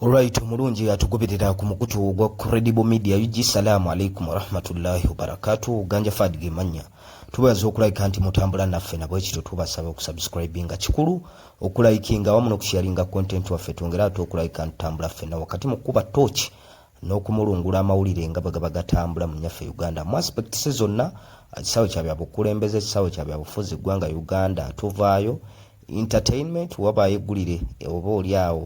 Alright omulungi atugoberera ku mukutu ogwa Credible Media UG salaamu alaikum warahmatullahi wabarakatu ganja fad gemanya tubaza okulayika nti mutambula naffe nabwe kityo tubasaba okusubscribinga kikulu okulayikinga awamu nokusharinga content waffe twongere ate okulayika ntutambula ffena wakati mu kukuba torch n'okumulungula amawulire nga bwe gaba gatambula mu nyaffe uganda mu aspects zonna ekisaawe kya byabukulembeze ekisaawe kya byabufuzi eggwanga uganda tuvaayo entertainment wabaayo eggulire oba oli awo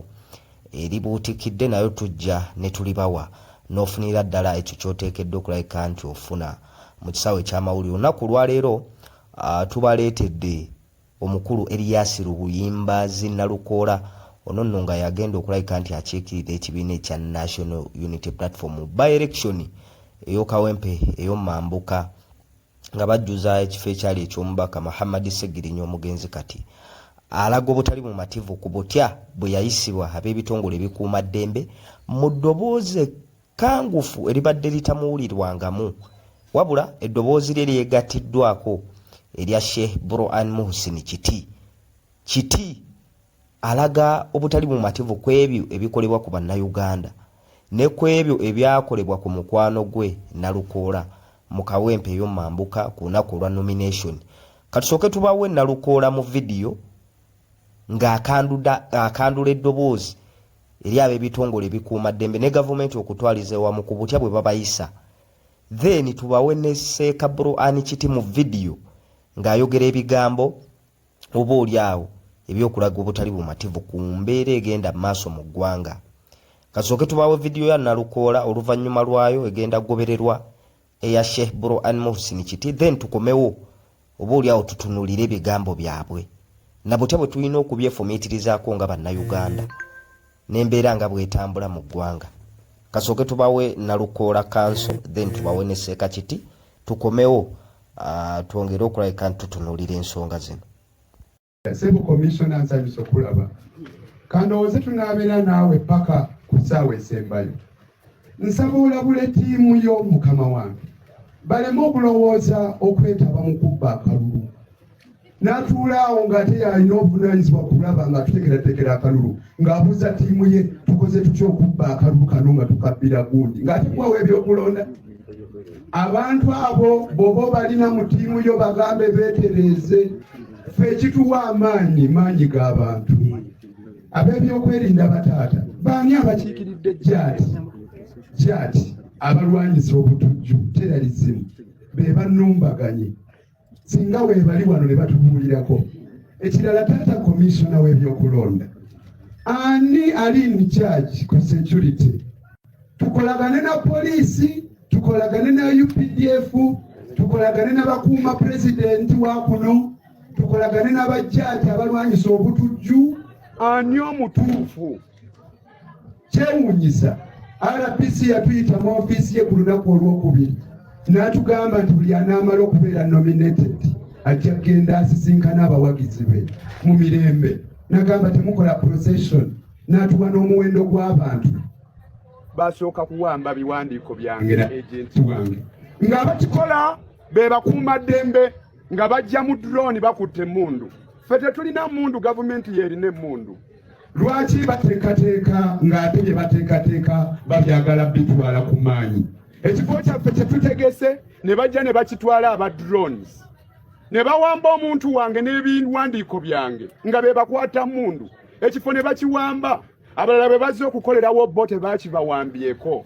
eribuutikidde nayo tujja ne tulibawa n'ofunira ddala ekyo ky'oteekeddwa okulabika nti ofuna mu kisaawe eky'amawulire olunaku olwaleero tubaleetedde omukulu eriyasi lubuyimba zinnalukoola ono nno nga yagenda okulabika nti akiikirira ekibiina ekya national unity platform by election ey'okawempe ey'omumambuka nga bajjuza ekifo ekyali eky'omubaka Muhammad Ssegirinya omugenzi kati alaga obutali mumativu ku butya bwe yayisibwa ab'ebitongole ebikuuma ddembe mu ddoboozi ekkangufu eribadde litamuwulirwangamu wabula eddoboozi lye lyegattiddwako erya Sheikh Buruan Muhsin Kiti Kiti alaga obutali bumativu ku ebyo ebikolebwa ku Bannayuganda ne ku ebyo ebyakolebwa ku mukwano gwe Nalukoola mu Kawempe eyo Mambuka ku lunaku olwa nomination. Katusooke tubawe Nalukoola mu vidiyo ng'akandula eddoboozi eri ab'ebitongole ebikuuma ddembe ne gavumenti okutwaliza ewamu ku butya bwe babayisa. Then tubawe ne Seeka Bro Ann Kiti mu vidiyo ng'ayogera ebigambo. oba oli awo ebyokulaga obutali bumativu ku mbeera egenda mu maaso mu ggwanga. Kasooke tubaawe vidiyo ya Nalukoola oluvannyuma lwayo egenda kugobererwa eya Sheikh Burhan Muhsin Kiti then tukomewo oba oli awo tutunulire ebigambo byabwe na butya bwe tulina okubyefumiitirizaako nga Bannayuganda. n'embeera nga bwetambula mu ggwanga kasooke tubawe nalukoola kanso then tubawe ne seekakiti tukomewo uh, twongere okulabika nti tutunuulira ensonga zino sebo komishona nsanyusa okulaba kandowooze tunaabeera naawe paka ku ssaawa esembayo nsaba olabule ttiimu yo mukama wange baleme okulowooza okwetaba mu kubba akalulu n'atuula awo ng'ate yalina obuvunaanyizibwa kulaba nga tuteekerateekera akalulu ng'abuuza ttiimu ye tukoze tutya okubba akalulu kano nga tukabbira gundi ng'ate kuwawo ebyokulonda abantu abo bwoba obalina mu ttiimu yo bagambe beetereeze ffe ekituwa amaanyi maanyi g'abantu ab'ebyokwerinda bataata baani abakiikiridde jaati jaati abalwanyisa obutujju teralizimu be banumbaganye singa weebali wano ne batubuulirako ekirala taata komisiona w'ebyokulonda ani ali in charge ku security tukolagane na poliisi tukolagane na updf tukolagane na bakuuma pulezidenti wa kuno tukolagane n'abajjaaji abalwanyisa obutujju ani omutuufu kyewuunyiza rbc yatuyita mu ofiisi ye ku lunaku olwokubiri n'atugamba nti buli anaamala okubeera nominated ajja kugenda asisinkana abawagizi be mu mirembe nagamba temukola procession n'atuwa n'omuwendo gw'abantu basooka kuwamba biwandiiko byange na agenti wange ng'abakikola be bakuuma ddembe nga bajja mu drone bakutte emmundu fe tetulina mundu gavumenti yerina emmundu lwaki bateekateeka ng'ate bye bateekateeka babyagala bitwala ku maanyi ekifo kyaffe kyetutegese ne bajja ne bakitwala aba drones ne bawamba omuntu wange n'ebiwandiiko byange nga be bakwata mundu ekifo ne bakiwamba abalala bwe bazze okukolerawo bo tebakibawambyeko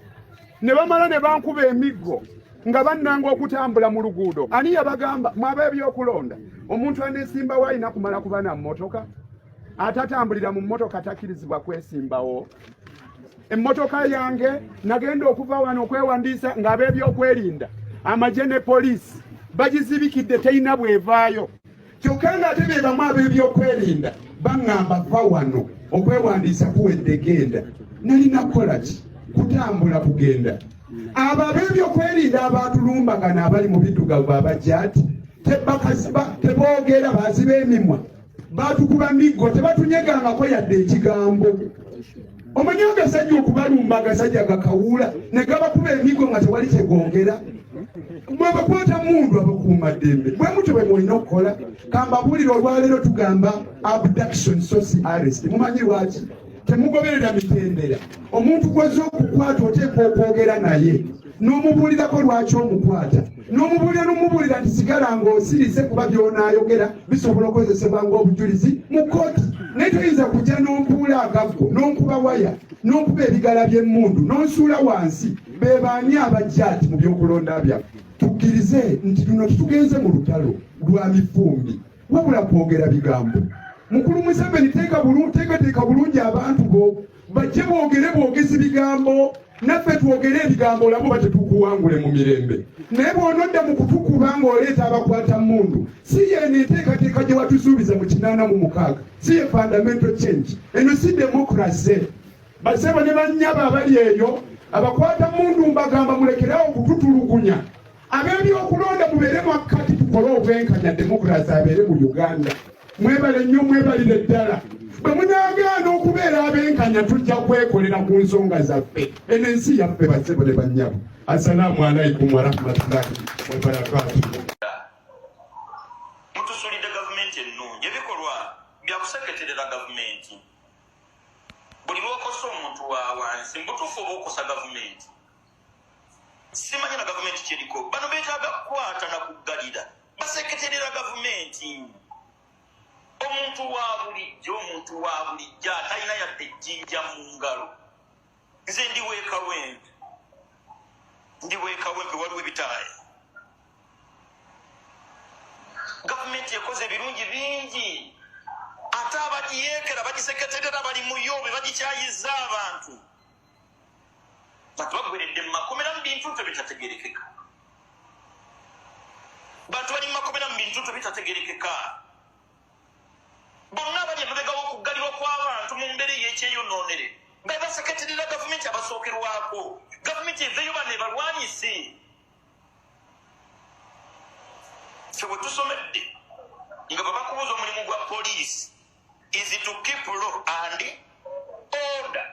ne bamala ne bankuba emiggo nga bannanga okutambula mu luguudo ani yabagamba mwaba ebyokulonda omuntu aneesimbawo alina kumala kuba na mmotoka atatambulira mu mmotoka takkirizibwa kwesimbawo emmotoka yange nagenda okuva wano okwewandiisa ng'ab'ebyokwerinda amagye ne poliisi bagizibikidde terina bwevaayo kyokka ng'ate be bamu ab'ebyokwerinda baŋŋamba va wano okwewandiisa kuwedde genda nalina kukola ki kutambula kugenda abo ab'ebyokwerinda abaatulumbagana abali mu biddugavu abajaati teboogera baziba emimwa baatukuba miggo tebatunyegangako yadde ekigambo omanyi agasajja okubalumba agasajja gakawuula ne gabakuba emigo nga tewali kyegongera mwebakwata mundu abakuuma ddembe bwe mutyo bwe mulina okukola kambabuulire olwaleero tugamba abduction sosi arrest mumanyi lwaki temugoberera mitendera omuntu gwezza okukwata oteekwa okwogera naye n'omubuulirako lwaki omukwata n'omubuulira n'omubuulira nti sigala ng'osirise kuba by'onaayogera bisobola okukozesebwa ng'obujulizi mu kkooti naye toyinza kujja n'ompuula agaggo n'onkuba waya n'onkuba ebigala by'emmundu n'onsuula wansi be baani abajja ati mu by'okulonda byaffe tukkirize nti luno tutugenze mu lutalo lwa mifumbi wabula kwogera bigambo mukulu museveni teekateeka bulungi abantu bo bajje boogere bwogezi bigambo naffe twogere ebigambo olabe oba tetukuwangule mu mirembe naye bwonodda mu kutukuba ng'oleeta abakwata mundu si yeeno enteekateeka gye watusuubiza mu kinaana mu mukaaga si ye fundamental change eno si demokrase basebo ne bannyabo abali eyo abakwata mundu mbagamba mulekerawo okututulugunya ab'ebyokulonda mubeere makkati tukole obwenkanya demokurasi abeere mu uganda mwebale nnyo mwebalire ddala bwe munagaana okubeera abenkanya tujja kwekolera ku nsonga zaffe eno ensi yaffe basebo ne bannyabo assalaamu alaikum warahmatullahi wabarakatu mutusulidde gavumenti ennungi ebikolwa byakuseketerera gavumenti buli lwokosa omuntu wawansi mubutuufu oba okosa gavumenti simanya na gavumenti kyeriko bano betaaga kukwata na kuggalira baseketerera gavumenti omuntu wa bulijjo omuntu wa bulijjo atalina yadde ejjinja mu ngalo nze ndi wekawempe ndi wekawempe waliwo ebitaaya gavumenti ekoze ebirungi bingi ate abagiyeekera bagiseketerera bali muyobe bagikyayiza abantu bantu bagweredde mu makomera mu bintu nto bitategerekeka bantu bali mu makomera mu bintu nto bitategerekeka bonna abali emabega w'okuggalirwa kw'abantu mu mbeera ey'ekyeyonoonere nga baseketerera gavumenti abasookerwako gavumenti eveyo bano ebalwanyise fe bwe tusomedde nga babakubuuza omulimu gwa poliisi is to keep law and order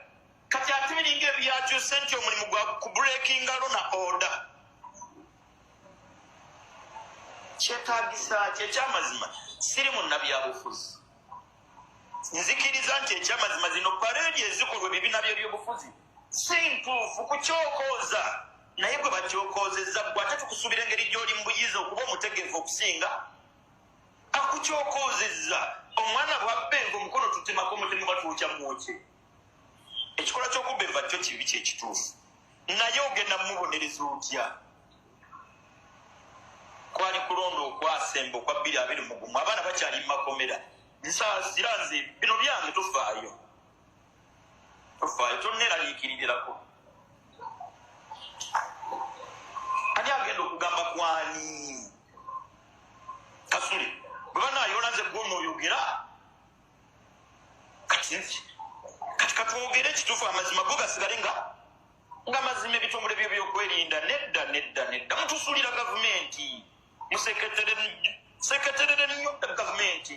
kati ate biringa ebyakyuse nti omulimu gwa kubrekinga lo na order kyetagisa ki ekyamazima siri munabyabufuzi nzikiriza nti ekyamazima zino paredi ezikolwa ebibiina byebyobufuzi si ntuufu kukyokooza naye gwe bakyokoozezza gwe ate tukusuubira engeri gy'oli mu buyiza okuba omutegeevu okusinga akukyokoozezza omwana bwabba enva omukono tutemako omutemu batwokya mwokye ekikola kyokubba enva kyo kibi kyekituufu naye ogenda mumubonereza otya kwali kulonda okwasemba okwa bbiri abiri mugumu abaana bakyali mumakomera nsaasira nze bino byange tufaayo tofaayo tonneraliikiririrako ani agenda okugamba kwani kasule bwe banayonaze gwona oyogera kati kati katwogere ekituufu amazima go gasigale nga nga mazima ebitongole byo byokwerinda nedda nedda nedda mutusulira gavumenti museketerere nyo gavumenti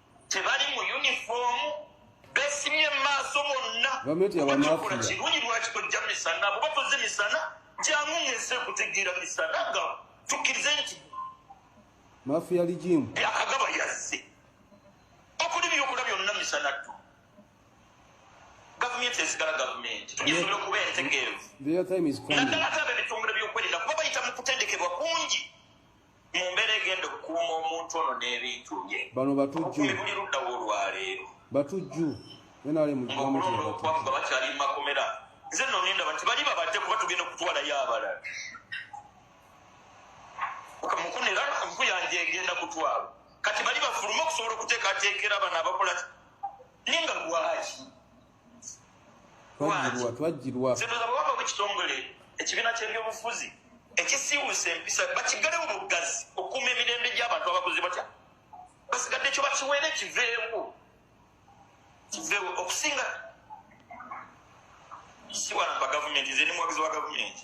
tebali mu yunifoomu besimye mumaaso bonna bakola kirungi lwaki tojja misana buba toze misana jangu ngeze kutegeera misana nga tukkirize nti mafiya ligimu byakagaba yazze okuli byokola byonna misana tu gavumenti ezigala gavumenti tugisobola okuba entegeevu naddala ate abebitongole byokwerinda kuba bayita mu kutendekebwa kungi mu mbeera egenda okukuuma omuntu ono n'ebintu bye bano batujju buli ludda wolwaleero batujju nrmulonda okubakuga bakyali mu makomera nze no ninda bati bali babadde kuba tugenda okutwalayo abalala mukunera nku yange egenda kutwala kati bali bafulume okusobola okuteekateekera abana abakola ninga lwaki twajjirwa ekitongole ekibiina ky'ebyobufuzi ekisiiwusa empisa bakiggalewo mu bugazi okukuuma emirembe gy'abantu abakozi batya basigadde ekyo bakiweere kiveewo kiveewo okusinga siwalampa gavumenti nze ni muwagizi wa gavumenti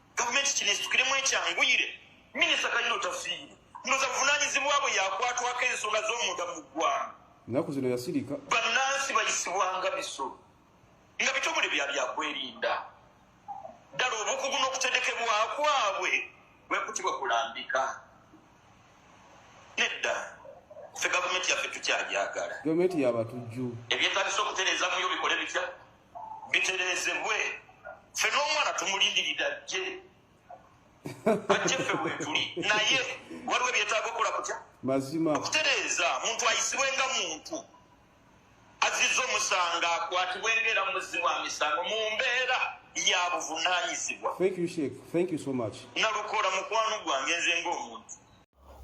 gavumenti kino esitukiremu ekyanguyire minisita kayiro tafiire ndoza buvunanyizibwa bwe yakwatwako ensonga z'omunda mu ggwanga ennaku zino yasirika bannansi bayisibwanga biso nga bitongole bya byakwerinda ddala obukugu n'okutendekebwa kwabwe bwekutibwa kulambika nedda fe gavumenti yaffe tukyajagala gavumenti yabatujju ebyetagisa okutereezamuyo bikole bitya bitereezebwe ffe n'omwana tumulindiridde ajje ajje ffe weetuli naye waliwo ebyetaaga okukola kutya mazima okutereeza muntu ayisibwe nga muntu azizza omusango akwatibwe ngaera muzzi wa misango mu mbeera ya buvunaanyizibwa nalukola mukwano gwange nze ng'omuntu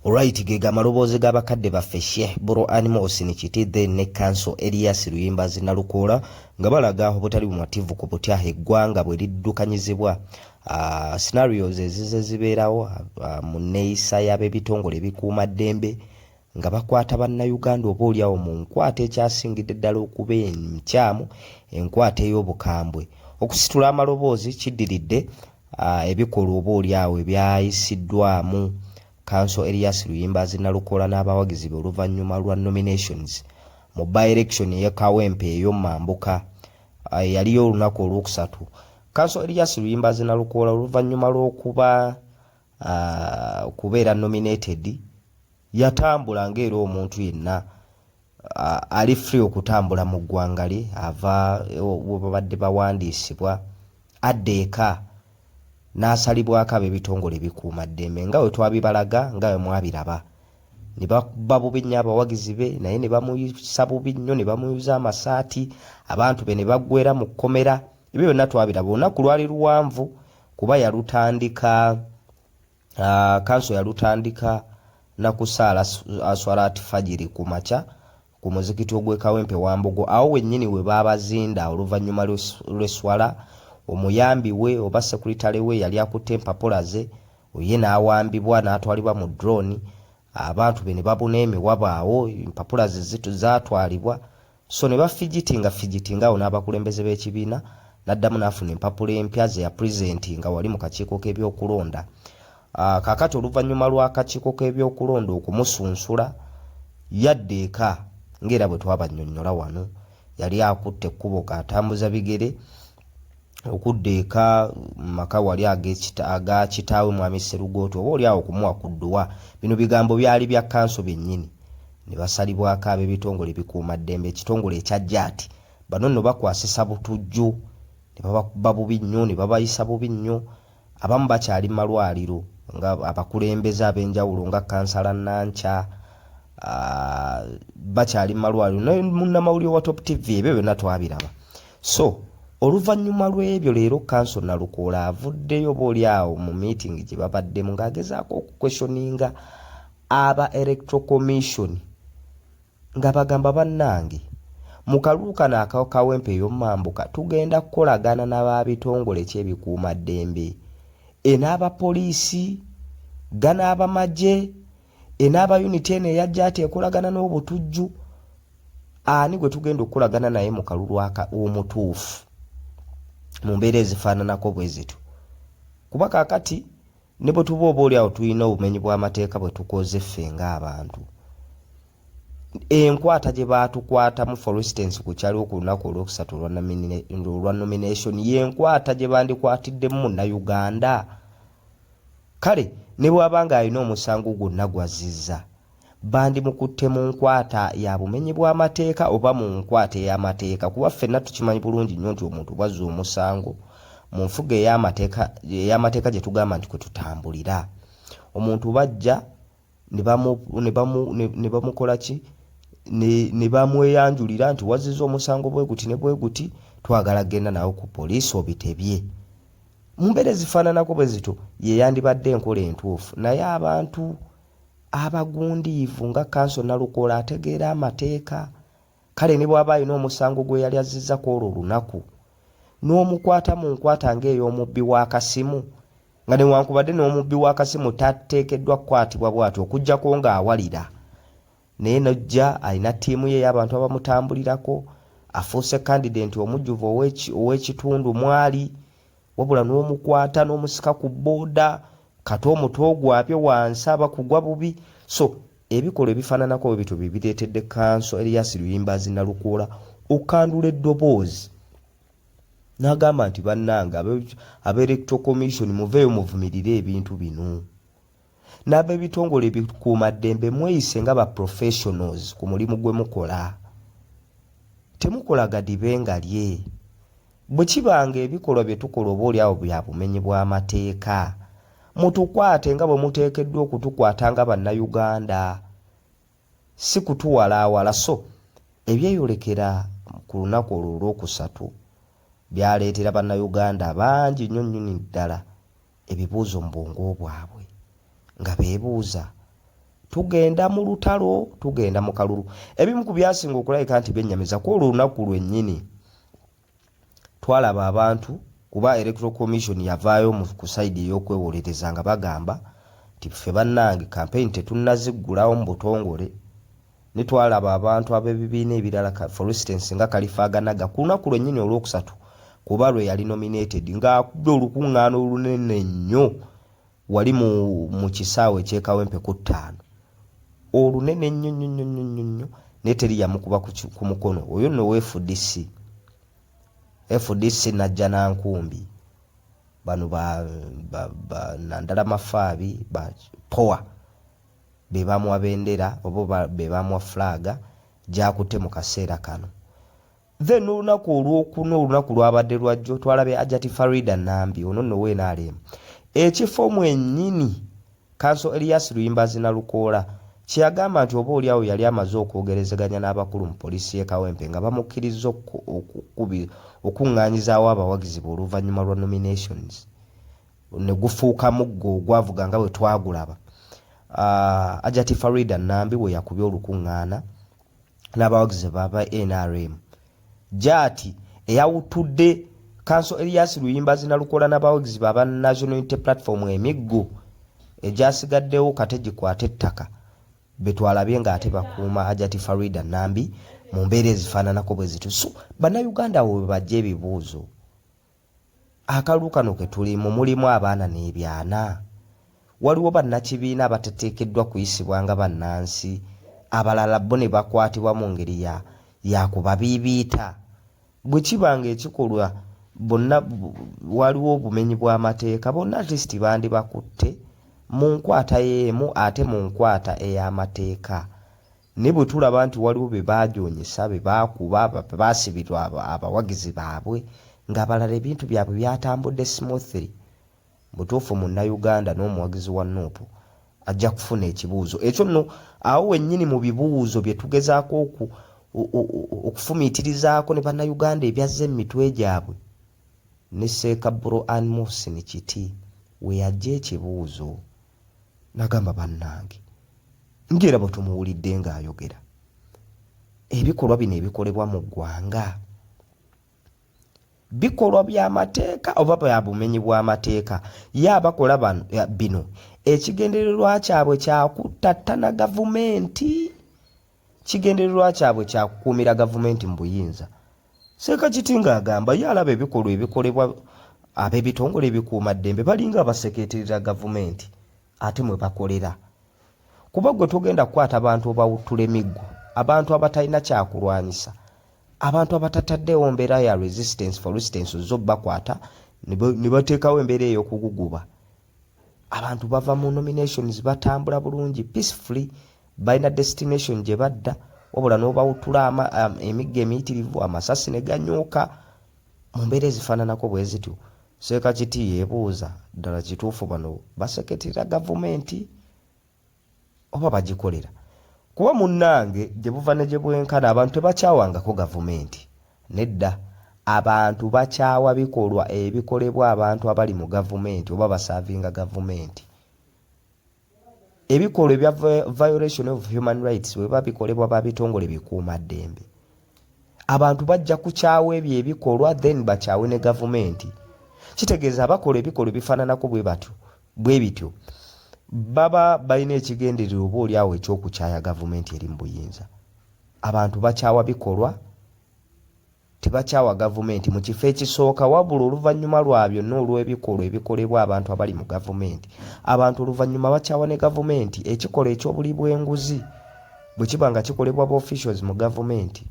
Alright ge gamaloboozi ga bakadde baffe Sheikh Buruani Muhsin Kiti then ne Kanso Elias Luyimbazi Nalukoola nga balaga obutali bumativu ku butya eggwanga bwe liddukanyizibwa uh, scenarios ezize zibeerawo uh, mu nneeyisa y'ab'ebitongole ebikuuma ddembe nga bakwata bannayuganda oba olyawo mu nkwata ekyasingidde ddala okuba enkyamu enkwata ey'obukambwe okusitula amaloboozi kiddiridde uh, ebikolwa oba oli awo ebyayisiddwamu kanso Elias Luyimbazi Nalukoola n'abawagizi be oluvannyuma lwa nominations mu by-election eye Kawempe eyo Mambuka eyaliyo uh, olunaku olwokusatu. Kanso Elias Luyimbazi Nalukoola oluvannyuma lw'okuba uh, okubeera nominated yatambula ng'era omuntu yenna ali free okutambula mu ggwanga lye ava webabadde bawandiisibwa adda eka n'asalibwako ab'ebitongole ebikuuma ddembe nga we twabibalaga nga we mwabiraba ne bakuba bubi nnyo abawagizi be naye ne bamuyisa bubi nnyo ne bamuyuza amasaati abantu be ne baggwera mu kkomera ebyo byonna twabiraba olunaku lwali luwanvu kuba yalutandika Ah, kanso yalutandika nakusaala aswalaati fajiri ku makya ku muzikiti ogwekawempe wambogo awo wennyini we baabazinda oluvannyuma lw'esswala omuyambi we oba sekuritale we yali akutte empapula ze oye n'awambibwa n'atwalibwa mu drone abantu be ne babuna emiwabo awo empapula ze zaatwalibwa So ne bafigitinga figitinga awo n'abakulembeze b'ekibiina n'addamu n'afuna empapula empya ze yapulizentinga wali mu kakiiko k'ebyokulonda. Ah, kaakati oluvannyuma lw'akakiiko k'ebyokulonda okumusunsula, yadda eka ng'era bwe twabannyonnyola wano. Yali akutte ekkubo k'atambuza bigere. okudda eka mu maka wali aga kitaawe Mwami Sserugooti oba oli awo kumuwa ku dduwa. Bino bigambo byali bya kkanso byennyini ne basalibwako ab'ebitongole ebikuumaddembe ekitongole ekya JAT. Bano nno bakwasisa butujju ne babakubba bubi nnyo ne babayisa bubi nnyo. Abamu bakyali mu malwaliro nga abakulembeze ab'enjawulo nga kkansala Nankya bakyali mu malwaliro ne munnamawulire wa Top TV ebyo byonna twabiraba. So oluvannyuma lw'ebyo leero kanso Nalukoola avuddeyo booli awo mu miitingi gye babaddemu ng'agezaako okukweshoninga aba Electoral Commission Nga bagamba bannange, mu kalulu kano aka Kawempe Ey'omumambuka tugenda kukolagana na ba bitongole ki ebikuuma ddembe, e n'aba poliisi, ga n'abamagye, e n'aba yuniti eno eya JATA ekolagana n'obutujju, ani gwe tugenda okukolagana naye mu kalulu aka omutuufu mu mbeera ezifaananako bwe zityo kuba kaakati Ne bwe tuba oboolyawo tulina obumenyi bw'amateeka bwe tukoze ffe ng'abantu, enkwata gye baatukwatamu for instance ku kyaliwo ku lunaku olwokusatu olwa nomination yenkwata gye bandikwatiddemu munnayuganda kale ne bwaba nga alina omusango gwonna gwazziza bandimukutte mu nkwata ya bumenyi bw'amateeka oba mu nkwata ey'amateeka kuba ffenna tukimanyi bulungi nnyo nti omuntu bw'azza omusango mu nfuga ey'amateeka ey'amateeka gye tugamba nti kwe tutambulira omuntu bajja ne bamukola ki ne bamweyanjulira nti wazziza omusango bwe guti ne bwe guti twagala kugenda nawo ku poliisi obitebye mu mbeera ezifaananako bwe zityo ye yandibadde enkola entuufu naye abantu abagundiivu nga Kanso Nalukoola ategeera amateeka kale ne bw'aba alina omusango gwe yali azzizza ku olwo olunaku n'omukwata mu nkwata ng'ey'omubbi w'akasimu nga newankubadde n'omubbi w'akasimu tateekeddwa kukwatibwa bw'atyo okuggyako ng'awalira naye n'ojja alina ttiimu ye ey'abantu abamutambulirako afuuse kandidenti omujjuvu ow'ekitundu mw'ali. wabula n'omukwata n'omusika ku booda kata omutwe ogwabye wansi aba kugwa bubi so ebikolwa ebifaananako bwe bityo bye bireetedde kanso eriyasi luyimbaazi nalukoola okukandula eddoboozi n'agamba nti bannange aba electoral commission muveeyo muvumirire ebintu bino n'ab'ebitongole ebikuumaddembe mweyise nga ba professionals ku mulimu gwe mukola. Temukola gadibe nga lye. Bwe kiba ng'ebikolwa bye tukola oboolyawo bya bumenyi bw'amateeka, mutukwate nga bwe muteekeddwa okutukwata nga Bannayuganda, si kutuwalaawala so Ebyeyolekera ku lunaku olwo Olwokusatu byaleetera Bannayuganda bangi nnyo nnyini ddala ebibuuzo mu bwongo bwabwe nga beebuuza tugenda mu lutalo tugenda mu kalulu ebimu ku byasinga okulabika nti byennyamiza ku olwo lunaku lwennyini twalaba abantu kuba electoral commission yavaayo mu ku sayidi ey'okwewolereza nga bagamba nti ffe bannange kampeyini tetunnaziggulawo mu butongole ne twalaba abantu ab'ebibiina ebirala ka, for instance, nga Kalifaaganaga, ku lunaku lwennyini olw'okusatu kuba lwe yali nominated, nga akubye olukungaana olunene nnyo wali mu, mu kisaawe eky'e Kawempe ku ttaano. Olunene nnyo nnyo nnyo nnyo nnyo nnyo, naye teri yamukuba ku, ku mukono. Oyo nno wa FDC. FDC najja na nkumbi. Bano ba, ba, ba Nandala Mafaabi, ba Powa. be bamuwa bendera oba be bamuwa flag gy'akutte mu kaseera kano. Then n'olunaku olwokuna olunaku lwabadde lwajjo twalabye Ajati Farida Nambi ono nno we NRM ekifo mwennyini Kanso Elias Luyimbazi Nalukoola kye yagamba nti oba olyawo yali amaze okwogerezeganya n'abakulu mu poliisi y'e Kawempe nga bamukkirizza okukung'aanyizaawo abawagizi be oluvannyuma lwa nominations. ne gufuuka muggo ogwavuga nga bwe twagulaba ah, ajati farida nambi we yakubye olukuŋŋaana n'abawagizi baba nrm jaati eyawutudde kanso elias luyimbazi nalukola n'abawagizi baba national unity platform emiggo egyasigaddewo kate gikwata ettaka betwalabye ng'ate bakuuma ajati farida nambi mu mbeera ezifaananako bwe zitusu bannayuganda wo bebajja ebibuuzo Akalulu kano ke tulimu mulimu abaana n'ebyana. Waliwo bannakibiina abatateekeddwa kuyisibwa nga bannansi, abalala bbo ne bakwatibwa mu ngeri ya ya kubabiibiita. Bwe kiba ng'ekikolwa bonna waliwo obumenyi bw'amateeka, bonna at least bandibakutte mu nkwata y'emu ate mu nkwata ey'amateeka. Naye bwe tulaba nti waliwo be baajoonyesa, be baakuba, be baasibirwa abawagizi baabwe, ng'abalala ebintu byabwe byatambudde smoothly, mu butuufu Munnayuganda n'omuwagizi wa nup ajja kufuna ekibuuzo ekyo nno. Awo wennyini mu bibuuzo bye tugezaako okufumiitirizaako ne Bannayuganda ebyazze mu mitwe gyabwe, ne Seeka Bro Ann Muhsin Kiti we yaggya ekibuuzo. Nagamba bannange ngera bwetumuwulidde nga ayogera ebikolwa bino ebikolebwa mu ggwanga bikolwa byamateeka oba bya bumenyi bw'amateeka ye abakola bino ekigendererwa kyabwe kyakuttattana gavumenti kigendererwa kyabwe kya kukuumira gavumenti mu buyinza. Sekakitinga agamba ye alaba ebikolwa ebikolebwa ab'ebitongole ebikuumaddembe balinga abasekeeterera gavumenti ate mwe bakolera kuba gwe togenda kukwata bantu obawuttula emiggo abantu abatalina kyakulwanyisa abantu abatataddeewo mbeera ya resistance for resistance ozza obakwata ne bateekawo embeera ey'okuguguba abantu bava mu nominations batambula bulungi peacefully balina destination gye badda wabula n'obawutula emigga emiyitirivu amasasi ne ganyuuka mu mbeera ezifaananako bwe zityo seeka kiti yeebuuza ddala kituufu bano baseketerera gavumenti oba bagikolera kuba munnange gye buva ne gye bwenkana abantu tebakyawangako gavumenti nedda abantu bakyawa bikolwa ebikolebwa abantu abali mu gavumenti oba basaavinga gavumenti ebikolwa ebya violation of human rights weba bikolebwa ba bitongole bikuuma ddembe abantu bajja kukyawa ebyo ebikolwa then bakyawe ne gavumenti kitegeeza abakola ebikolwa ebifaananako bwe batyo bwe bityo baba balina ekigendererwa oba oli awo ekyokukyaya gavumenti eri mu buyinza abantu bakyawa bikolwa tebakyawa gavumenti mu kifo ekisooka wabula oluvannyuma lwa byonna olw'ebikolwa ebikolebwa abantu abali mu gavumenti abantu oluvannyuma bakyawa ne gavumenti ekikolwa eky'obuli bw'enguzi bwe kiba nga kikolebwa ba officials mu gavumenti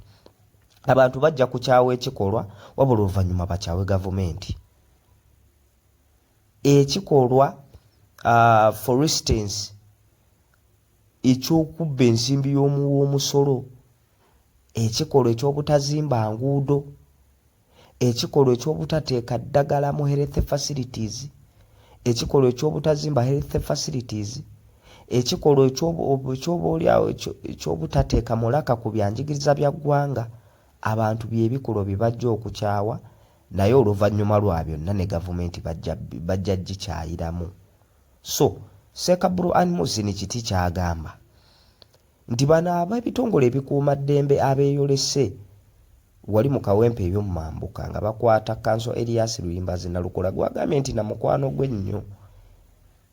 abantu bajja kukyawa ekikolwa wabula oluvannyuma bakyawe gavumenti ekikolwa uh, for instance eky'okubba ensimbi y'omuwa omusolo ekikolwa eky'obutazimba nguudo, ekikolwa eky'obutateeka ddagala mu health facilities, ekikolwa eky'obutazimba health facilities, ekikolwa ekyoboolyawo eky'obutateeka mulaka ku bya njigiriza bya ggwanga, abantu bye bikolwa bye bajja okukyawa naye oluvannyuma lwa byonna ne gavumenti bajja gikyayiramu. So Ssekaburu Ann Muhsin Kiti ky'agamba nti bano ab'ebitongole ebikuuma ddembe abeeyolese wali mu kawempe eby'omu mambuka nga bakwata kkanso Erias Luyimbazi Nalukola gwagambye nti na mukwano gwe nnyo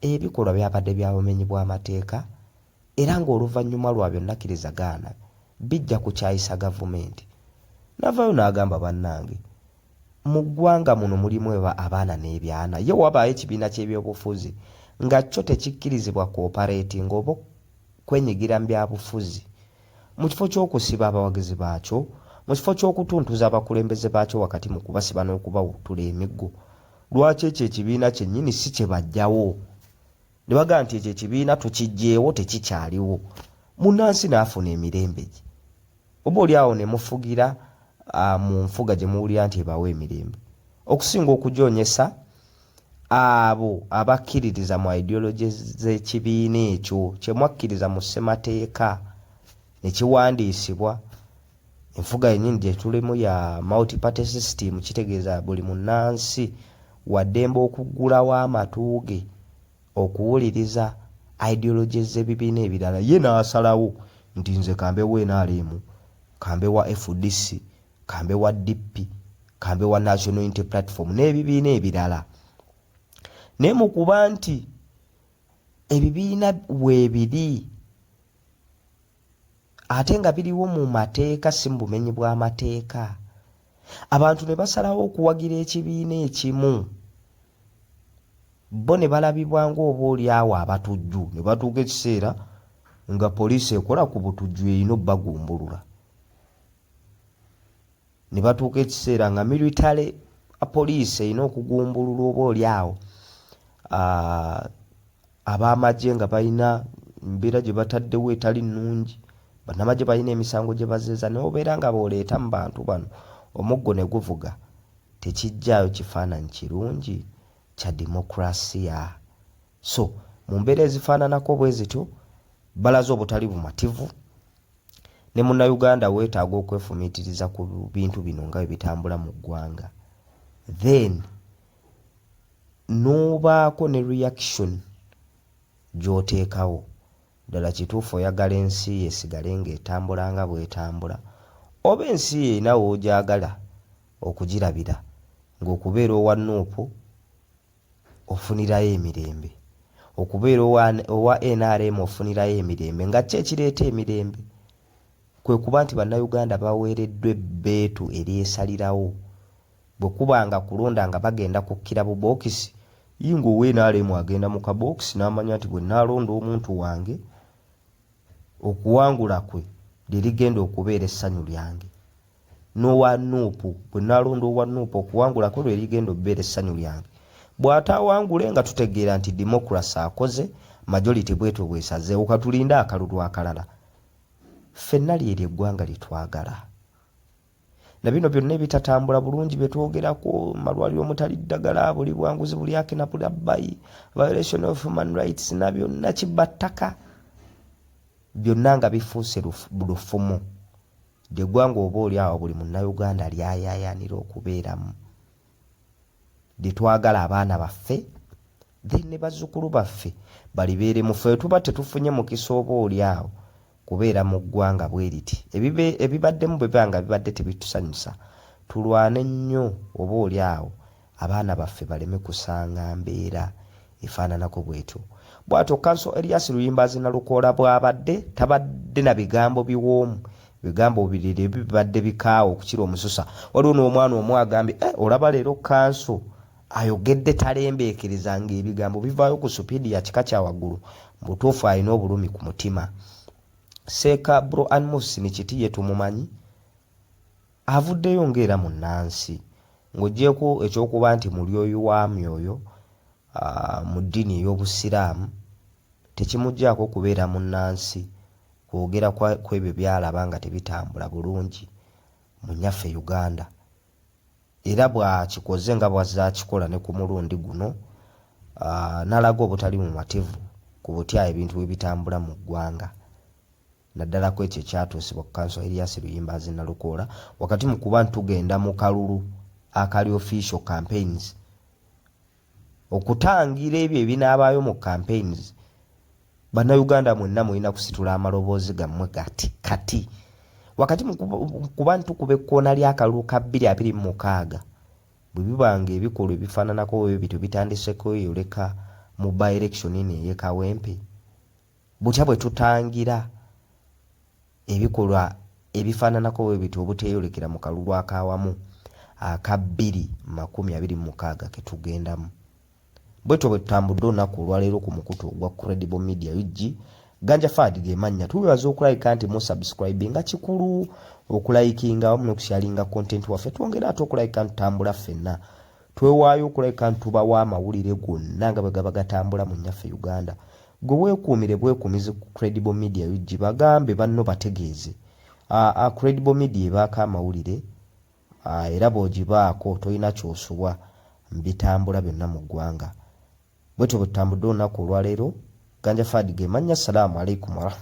ebikolwa byabadde bya bumenyi bw'amateeka era ng'oluvannyuma lwa byonna kkirizagaana bijja kukyayisa gavumenti. Navayo n'agamba bannange Mu ggwanga muno mulimu abaana n'ebyana. Ye wabaayo ekibiina ky'ebyobufuzi nga kyo tekikkirizibwa kwopareetinga oba kwenyigira mu bya bufuzi, mu kifo ky'okusiba abawagizi baakyo, mu kifo ky'okutuntuza abakulembeze baakyo wakati mu kubasiba n'okubawuttula emiggo, lwaki ekyo ekibiina kyennyini si kye baggyawo? ne bagamba nti ekyo ekibiina tukiggyeewo tekikyaliwo munnansi n'afuna emirembe gye oba oli awo ne mufugira mu nfuga gye muwulira nti ebawo emirembe okusinga okugyonyesa abo abakkiririza mu ideology z'ekibiina ekyo kye mwakkiriza mu ssemateeka ne kiwandiisibwa Enfuga yennyini gye tulimu ya multi party system kitegeeza buli munnansi waddembe okuggulawo amatu ge okuwuliriza ideologies z'ebibiina ebirala ye n'asalawo nti nze ka mbe wa nrm, ka mbe wa fdc, ka mbe wa DP, ka mbe wa National Unity Platform n'ebibiina ebirala. Naye mu kuba nti ebibiina weebiri, ate nga biriwo mu mateeka si mu bumenyi bw'amateeka abantu ne basalawo okuwagira ekibiina ekimu bo ne balabibwa ng'oba oli awo abatujju ne batuuka ekiseera nga poliisi ekola ku butujju erina obbagumbulula ne batuuka ekiseera nga military poliisi erina okugumbululwa oba oli awo ab'amagye nga balina embeera gye bataddewo etali nnungi bannamagye balina emisango gye bazeeza naye obeera nga booleeta mu bantu bano omuggo ne guvuga tekijjaayo kifaananyi kirungi kya demokulasiya so mu mbeera ezifaananako bwe zityo balaze obutali bumativu Ne munnayuganda wetaaga okwefumitiriza ku bintu bino nga bwebitambula mu ggwanga then nobaako ne reaction gyoteekawo ddala kituufu oyagala ensi yo esigale nga etambula nga bwetambula oba ensi yo erina wogyagala okugirabira nga okubeera owa Nup ofunirayo emirembe. Okubeera owa nrm ofunirayo emirembe nga kki ekireeta emirembe? Kwe kuba nti Bannayuganda baweereddwa ebbeetu eryesalirawo. Bwe kuba nga kulonda nga bagenda kukkira bubookisi, yii nga owa nrm agenda mu kabookisi n'amanya nti bwe nnaalonda omuntu wange, okuwangula kwe lye ligenda okubeera essanyu lyange. n'owa Nuupu bwe nnaalonda owa Nuupu okuwangulako lwe ligenda obbeera essanyu lyange. Bw'ataawangule nga tutegeera nti democracy akoze, majority bw'etyo bw'esazeewo, ka tulinde akalulu akalala. Ffenna lye lye ggwanga lye twagala. Na bino byonna ebitatambula bulungi bye twogerako, malwaliro omutali ddagala, buli bwanguzi buli haki na bulabbayi, violation of human rights na byonna kibattaka, byonna nga bifuuse lufumo. Lye ggwanga oba oli awo buli Munnayuganda ly'ayaayaanira okubeeramu, lye twagala abaana baffe then ne bazzukulu baffe balibeeremu. Ffe bwe tuba tetufunye mukisa oba oli awo kubeera mu ggwanga bwe liti, ebibaddemu bwe biba nga bibadde tebitusanyusa, tulwane nnyo oba oli awo abaana baffe baleme kusanga mbeera efaananako bwetyo. Bwatyo Kanso Elias Luyimbaazi Nalukoola bwabadde tabadde na bigambo biwoomu bigambo obirere bibadde bikaawa okukira omususa. Waliwo n'omwana omu agambye, eh, olaba leero Kanso ayogedde talembeekereza ng'ebigambo bivaayo ku supiidi ya kika kya waggulu, mu butuufu alina obulumi ku mutima. Seeka Bro Anmus Sinikiti ye tumumanyi Avuddeyo nga era munnansi. Ng'oggyeeko eky'okuba nti mulyoyi wa myoyo mu ddiini ey'Obusiraamu, tekimuggyaako kubeera munnansi kwogera kw'ebyo by'alaba nga tebitambula bulungi mu nnyaffe Uganda era bw'akikoze nga bw'azze akikola ne ku mulundi guno n'alaga obutali bumativu ku butya ebintu bwe bitambula mu ggwanga. naddala kwekyo ekyatuusibwa ku Council Erias Luyimbaazi Nalukoola wakati mu kuba ntugenda mu kalulu akali official campaigns okutangira ebyo ebinaabaayo mu campaigns bannayuganda mwenna mulina kusitula amaloboozi gammwe gati kati wakati mu kuba ntukuba ekkoona ly'akalulu ka bbiri abiri mu mukaaga bwe biba nga ebikolwa ebifaananako bwe bityo bitandiseko yoleka mu by election eno ey'e Kawempe Butya bwe tutangira ebikolwa ebifaananako bwe bityo obuteeyolekera mu kalulu ak'awamu aka bbiri makumi abiri mu mukaaga ke tugendamu? Bwetyo bwe tutambudde olunaku olwaleero ku mukutu ogwa Credible Media UG, Ganja Fahad ge mannya. Tubebaza okulabika nti mu subscribinga, kikulu okulayikinga awamu n'okusharinga content waffe. Twongere ate okulabika nti tutambula ffenna. Twewaayo okulabika nti tubawa amawulire gonna nga bwe gaba gatambula mu Nnyaffe Uganda. Gwe wekuumire bwekuumizi ku credible media ug bagambe banno bategeeze a a credible media ebaako amawulire a era bwogibaako tolina kyosubwa mubitambula byonna mu ggwanga bwetyo bwetutambudde olunaku olwaleero Ganja Fahad gemannya Salaam Alaikum Warahma.